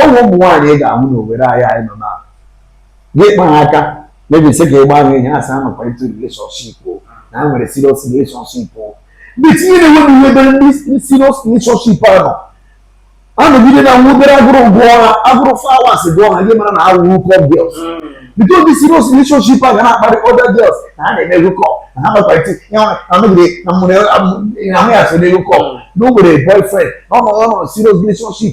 ụmụ ụmụ nwaanyị ị ga-ahụ na Owerri anyị anyị nọ na gị kpa ha aka maybe sị ka ị gbaa ha ihe asị ha nọkwa into relationship o na ha nwere serious relationship o ndị tinye na-enwe na ihe ebe ndị serious relationship a nọ anọgide na nwudere agụrụ gụọ ha agụrụ flowers gụọ ha gị mara na a wụ hookup girls because ndị serious relationship a ga na-akparị other girls na ha na-eme hookup na ha nọkwa into ya anọgide na mụrụ ahụ ya so na hookup na o nwere boyfriend na ọ nọ ọ nọ serious relationship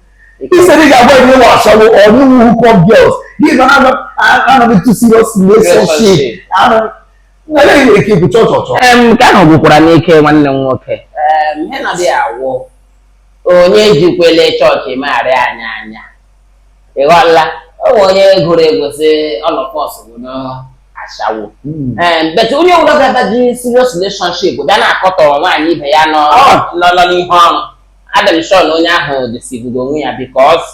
Instead, ị ga-agba ụmụ ashawo ọnụ, hookup girls. Gị asị anọ m into serious relationship. I don't. Ihe niile gị bụ chọchọchọ. Nke ahụ gwụkwara m ike nwanne m nwoke. Ihe ndị a wụ onye jikwala chọọchị megharịa anyị anya. Ị ghọọla, o nwere onye gụrụ egwu sị all of us bụ ndị ashawo hmm. eh, but onye ọbụla ga-adaji serious relationship bịa na-akọtọ nwaanyị ibe ya nọ oh. n'ihe ọrụ adị m sure na onye ahụ deceivego onwe ya because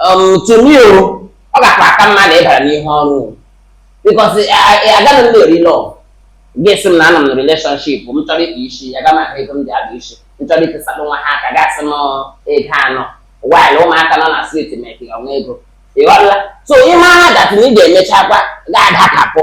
um, to me o ọ gakwa aka mma na ị bara n'ihe ọrụ o. because agaghị m na-eri love gị sị m na anọ m na relationship m chọrọ ịkpa isi aga m ahụ ego m ji akpa isi m chọrọ itisalụ nwa ha aka gị asị m ego anọ while ụmụaka nọ na street mekịga nwa ego ịghọla so ịma ha that na ị ga-emechakwa ga-adakapụ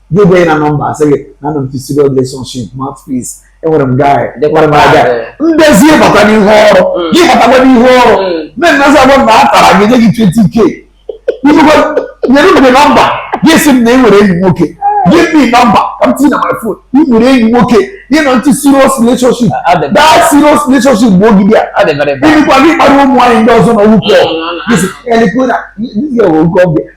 gị gwa na nọmba asị gị na anọ m into serious relationship mouthpiece enwere m guy enwere m aga ndezi ịbata n'ihu ọrụ mm. gị batakwa n'ihu ọrụ nne nna sị agwa na a tara gị nye gị 20k nyere m gị nọmba gị sị m na enwere enyi nwoke give me number ka m tinye na my phone ị nwere enyi nwoke ị nọ into serious relationship that serious relationship bụ ogidi a ịnụkwa gị kparị ụmụ nwaanyị ndị ọzọ na hookup elekwe na ndị hookup ọbịa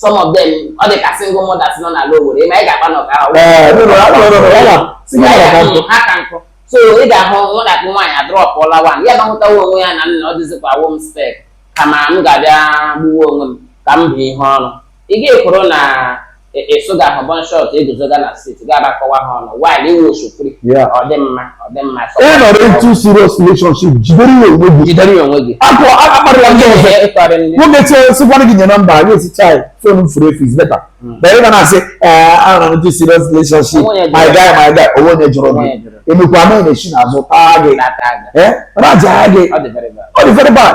some of them ọ dị ka single mothers nọ n'ala Owerri ị ma ị ga-akpa n'ọka ahụ ha ka nkụ so ị ga-ahụ nwatakịrị nwaanyị adrọpụọla one ya bahụtawa onwe ya na nna ọ dịzikwa wo m spec kama m ga-abịa gbuwe onwe m ka m bụ ihe ọrụ ị ga-ekwuru na ịsụga ahụ bum short eguzoga na street ga-abakọwa ha ọnụ while ị wụ osho free ọ dị mma ị nọrọ into serious relationship jidere ya onwe gị jidere ya onwe gị akụ akparịla ndị ọzọ nwoke chee sịkwara gị nye nọmba gị asị chai phone m furu efu is better than ị ga na-asị ee anọ m into serious relationship my guy my guy o nwere onye jụrụ gị emekwa anaghị na-echi n'azụ taa gị raja gị ọ dị very bad